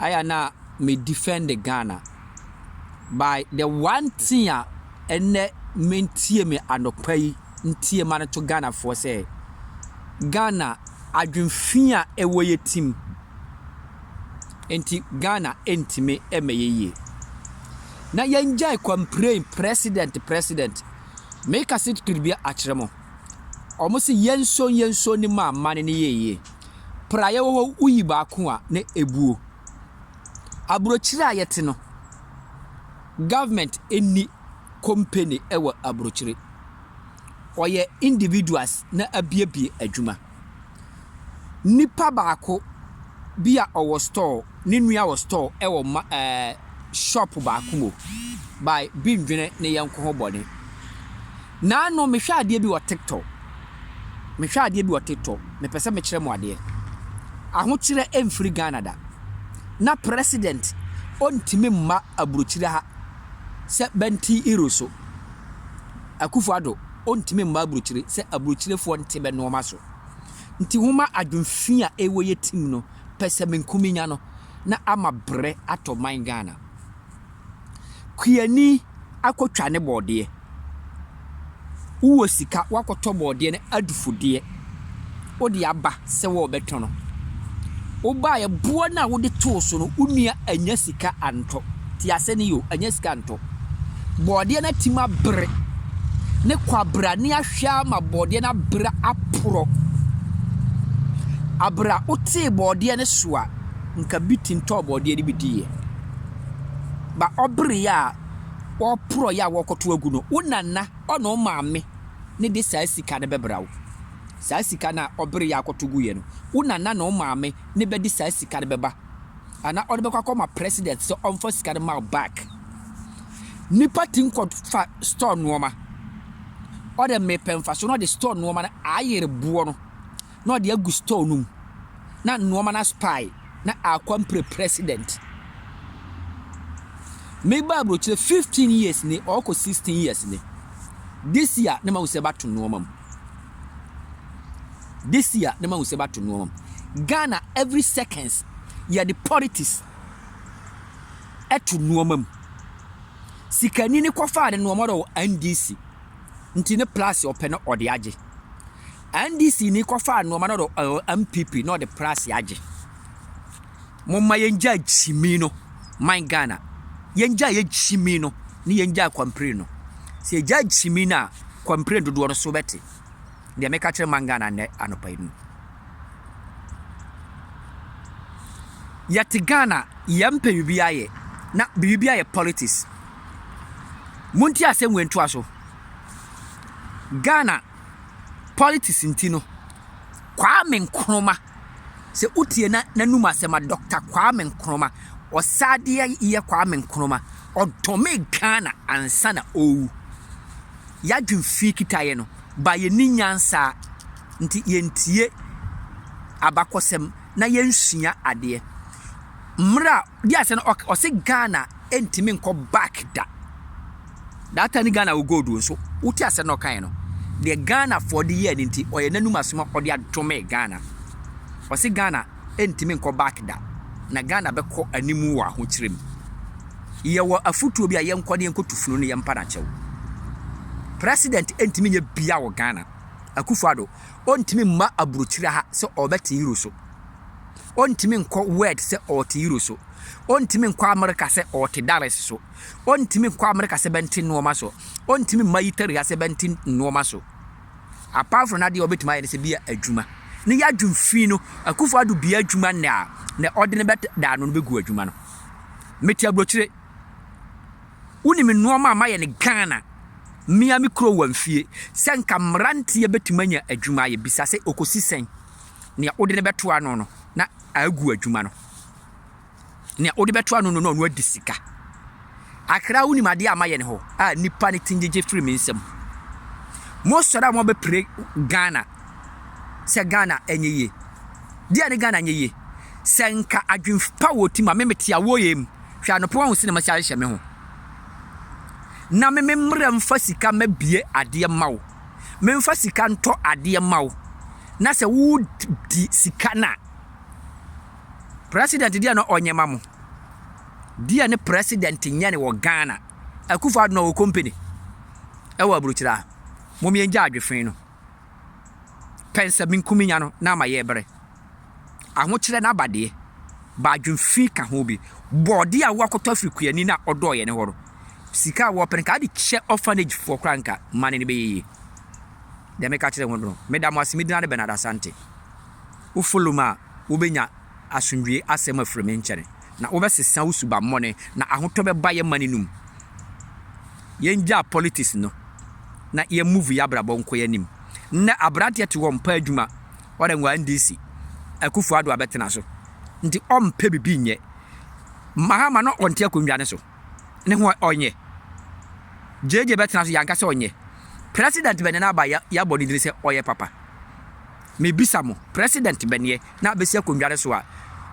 ayɛ a na me defɛnde Ghana by the one thing a ɛnɛ me ntie me anɔpa yi ntie ma no to Ghana foɔ sɛ Ghana adwene fi a ɛwɔ yɛ tim nti Ghana ntumi ɛmɛ yɛ yie na yɛn gyae complain president president me kasi kiribia akyerɛ mo ɔmo si yɛn so yɛn so ni ma amane ni yɛ yie. praeɛ wɔ hɔ woyi baako a na ɛbuo. Aburokyire a yɛte no, government nni company wɔ aburokyire. Ɔyɛ individuals na abuebue adwuma. Nipa baako bi a ɔwɔ store, ne nua wɔ store wɔ ma ɛɛ shop baako mu by bi ndwene ne yɛnko ho bɔne. Naano mehwɛ adeɛ bi wɔ tiktok mehwɛ adeɛ bi wɔ tiktok mepɛ sɛ mekyerɛ mo adeɛ ahokyerɛ ɛmfiri Ghana da na president ɔntumi mma aburokyire ha sɛ bɛnte iro so Akufo Addo ɔntumi mma aburokyire sɛ aburokyirefoɔ nte bɛ nnoɔma so nti homa adwenfi a ɛwɔ yɛ tim no pɛsɛmenkuminya no na ama brɛ atɔ man Ghana. Kuani akɔtwa ne bɔɔdeɛ. Wowɔ sika woakɔtɔ bɔɔdeɛ no adufodeɛ, wode aba sɛ worebɛtɔn no. Wobaeɛ, boɔ no a wode too so no, wo nua annya sika antɔ. Tie asɛm no yie o, annya sika antɔ. Bɔɔdeɛ no atim abere. Ne kwabrane ahwɛ ara ma bɔɔdeɛ no abere aporɔ. Aberɛ a wotee bɔɔdeɛ no so a, nka bi te ntɔɔ bɔɔdeɛ no bi diiɛ. ba ɔbere yi a ɔreporɔ yi a wɔrekɔtow agu no, wo nana ɔne wo maame na ɛde saa sika no bɛbra wo. Saa sika no a ɔbere yi a akɔtow guiɛ no, wo nana ne wo maame na ɛbɛde saa sika no bɛba. Anaa ɔde bɛkɔ akɔma president sɛ ɔmfa sika no ma wo back. Nipa ti nkɔ fa store nneɛma. Ɔde mmepɛ mfaso na ɔde store nneɛma no ayere boɔ no. na ɔde agu store no mu na nnoɔma no aspaae na akɔ mpere president. Me ba abrokyire 15 years ni ɔkɔ 16 years ni. This year ne ma wusɛ bato nnoɔma mu. This year ne ma wusɛ bato nnoɔma mu. Ghana every seconds yɛde politics ɛto nnoɔma mu. Sikani ne kɔfaa ne nnoɔma dɔ wɔ NDC nti ne plus ɔpɛ no ɔde agye. NDC ni kɔfaa nnoɔma no ɔdɔ eh, MPP na ɔde prase agye. Momma yɛngya gyimi no, man Ghana. Yɛngya yɛ gyimi no, ne yɛngya kwampire no. Sɛ yɛgya gyimi no a, kwampire dodoɔ no so bɛte. Deɛ meka kyerɛ man Ghana nnɛ anɔpa yi no. Yɛte Ghana, yɛmpɛ biribi ayɛ, na biribi ayɛ politics. Monti asɛm wei ntoa so. Ghana politics nti no, Kwame Nkrumah, sɛ wotie na n'anum asɛm a, Dɔkta Kwame Nkrumah, ɔsaadeɛ yɛ Kwame Nkrumah, ɔdomee Ghana ansa na ɔrewu. Yɛadwene fii kitaeɛ no, but yɛnni nyansa nti yɛntie abakɔsɛm. na yɛnsua adeɛ. Mmerɛ a, di aseɛ no ɔk ɔse Ghana ntumi nkɔ back da. That time no Ghana wɔ gold o nso wote aseɛ no ɔkaeɛ no, deɛ Ghanafoɔ de yɛɛ no nti ɔyɛ n'anum asɛm a ɔde adome Ghana. Ɔse Ghana ntumi nkɔ back da, na Ghana bɛkɔ anim wɔ ahokyerɛ mu. Yɛwɔ afotuo bi a yɛnkɔ na yɛnkɔtu funu no yɛmpa no akyɛw. President ntumi nyɛ bia wɔ Ghana. Akufo-Addo, ɔntumi mma aburokyire ha sɛ ɔrebɛte Euro so. Ɔntumi nkɔ Word sɛ ɔrete Euro so. Ɔntumi nkɔ Amerika sɛ ɔrete Dallas so. Ɔntumi nkɔ Amerika sɛ bɛnte nnoɔma so. Ɔntumi mma Italy ha sɛ bɛnte nnoɔma so. Apart from n'adeɛ a ɔbɛtumi ayɛ no sɛ bi a adwuma. Ne yɛadwum fi no, akufo ado bia adwuma nnɛ a, na ɔde no bɛda ano no bɛgu adwuma no. Mete aburokyire. Wonim nnoɔma a mayɛ no Ghana me ara me kurom wɔ mfie sɛ nka mmeranteɛ bɛtumi anya adwuma ayɛ. Bisa sɛ ɔkɔsi sɛn? Nea wode no bɛto ano no na agu adwuma no. Nea wode bɛto ano no na ɔno adi sika. Akra wonim adeɛ a mayɛ no hɔ a nnipa no ti ngyegye firi me nsam. Mosɔre a moabɛpire Ghana. sɛ Ghana nyɛ yie. Deɛ ne Ghana nyɛ yie. Sɛ nka adwen pa wɔ ti ma me mete awɔ yɛ mu. Hwɛ anɔpa wahu sene masi ahyehyɛ me ho. Na me me mmerɛ mfa sika mɛ bie adeɛ ma wo. Me mfa sika ntɔ adeɛ ma wo. Na sɛ wo di sika na. President deɛ na ɔnyɛ ma mo. Deɛ ne president nyɛ ne wɔ Ghana. Akufo adona wɔ company. Ɛwɔ aburukyira. Mom yɛn gya adwefen no. pɛ nsɛ minkum nya no na ama yɛ bere. Ahokyerɛ no aba deɛ, b'adwen fi ka ho bi. Bɔɔde a woakɔtɔ afiri kuani no a ɔdɔɔ yɛne hɔ no, sika a wɔpɛ no nka ade kyɛ orphanage foɔ koraa nka mane no bɛyɛ yie. Deɛ meka kyerɛ ho no, meda mo ase, medina de Bernard Asante. Wo follow me a wobɛnya asomdwie asɛm afiri me nkyɛne, na wobɛsesa wo subammɔne, na ahotɔ bɛba yɛ mane no mu. yɛngyaa politics no na yɛ move yɛ abrabɔ nkɔ yɛ anim. Nnɛ abranteɛ te hɔ ɔmpɛ adwuma ɔdɛ nwa NDC Akufo Addo abɛtena so nti ɔmpɛ bibi nyɛ. Mahama no ɔnte akonnwa no so ne ho ɔnyɛ. JJ bɛtena so yɛanka sɛ ɔnyɛ. President bɛneɛ na aba yɛabɔ ne dini sɛ ɔyɛ papa. Mebisa mo president bɛneɛ na abɛsi akonnwa no so a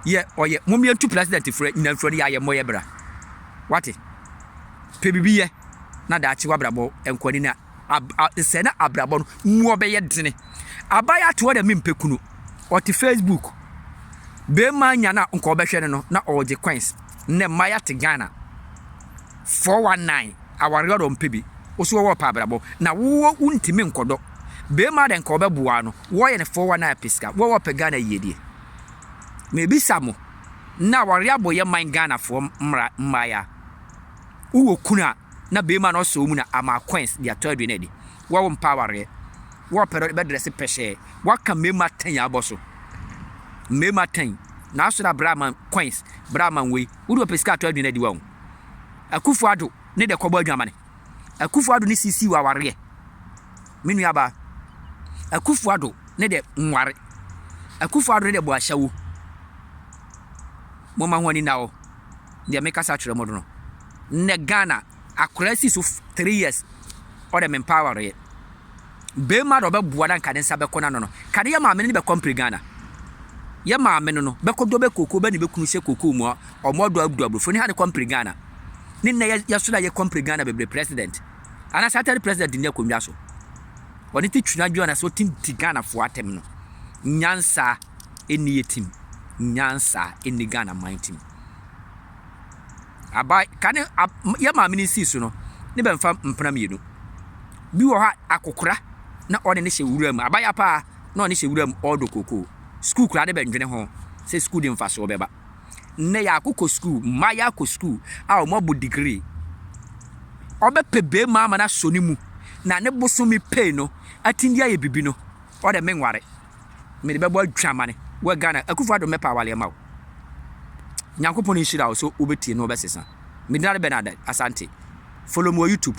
yɛ ɔyɛ. Mom yɛntu president frɛ nyina mfiri ɔde yɛ ayɛ mmɔ yɛ bra. Wate. pɛ biribi yɛ na daakye w'abrabɔ nkɔ anim na ab a nsɛ na abrabɔ no mu ɔbɛyɛ dene. Abayewa ate hɔ dɛ mempɛ kunu. Ɔte Facebook. Bɛrima nya no a nka ɔbɛhwɛ no no na ɔregye coins. Nnɛ mmayewa te Ghana. 419 awareɛ ɔdɔ ɔmpɛ bi. Wo so wɔwɔ ɔpɛ abrabɔ na wo wɔ wontumi nkɔdɔ. Bɛrima dɛ nka ɔbɛboa wo no wɔyɛ no 419 apɛ sika. Wɔwɔ ɔpɛ Ghana yiedie. Mebisa mo. na aware abɔ yɛ man Ghana foɔ mmra mmaeɛ a wo wɔ kunu a na bɛɛma no ɔsɔ wo mu na ama coins de atɔ aduane adi wo a wo mpa awareɛ wo a ɔpɛ dɛ bɛ dress pɛhyɛɛ wo aka mmarima atɛn abɔ so mmarima atɛn na asɔre abra ama coins bra ama wei wo de ɔpɛ sika atɔ aduane adi wo a wo akufo ado ne dɛ kɔbɔ adwamane. Akufo Addo ne Sisi wɔ awareɛ. Me nua baa. Akufo Addo ne dɛ nware. Akufo Addo ne dɛ bɔ ashawo. Mo ma ho ani na hɔ. Deɛ me kasa kyerɛ mo do no. Nnɛ Ghana, akwadaa si so three years, ɔdɛ me mpaa awareɛ. Beema na ɔbɛboa na nka ne nsa bɛkɔ n'ano no, ka ne yɛ maame no ne bɛkɔ mpire Ghana. Yɛ maame no no, bɛkɔ dɔ bɛ koko bɛ ne bɛ kunu sɛ koko mua, ɔmo ɔdɔ agudu abrofo ne ha ne kɔ mpire Ghana. Ne nnɛ yɛ yɛ so na yɛ kɔ mpire Ghana bebree president. Anase atɛre president nni akonnwa so. Ɔne te twina dwena sɛ ɔtim ti Ghana fo atɛm no. Nyansa ɛnni yɛ tim. Nyansa ɛnni Ghana man tim. Aban ka ne a yɛ maame no nsii so no, ne bɛ mfa mpena mmienu. Bi wɔ hɔ a, akokora na ɔne no hyɛ nwura mu. Abaya pa ara na ɔne hyɛ nwura mu, ɔredɔ kookoo. Sukuu koraa ne bɛ ndwene ho sɛ sukuu de mfasoɔ bɛba. Nnɛ yɛako kɔ sukuu, mmayewa akɔ sukuu a wɔabɔ degree. Ɔbɛpɛ beema ama no asɔ ne mu na ne bosome pay no atumi de ayɛ biribi no, ɔdɛ menware. mede bɛbɔ adwamane wɔ Ghana. Akufo Addo mɛpa awale ama wo. Nyankopɔn nhyira wo so wobɛtie na wobɛsesa. Medin ade Bernard Asante. Follow me wɔ YouTube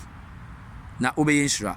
na wobɛyɛ nhyira.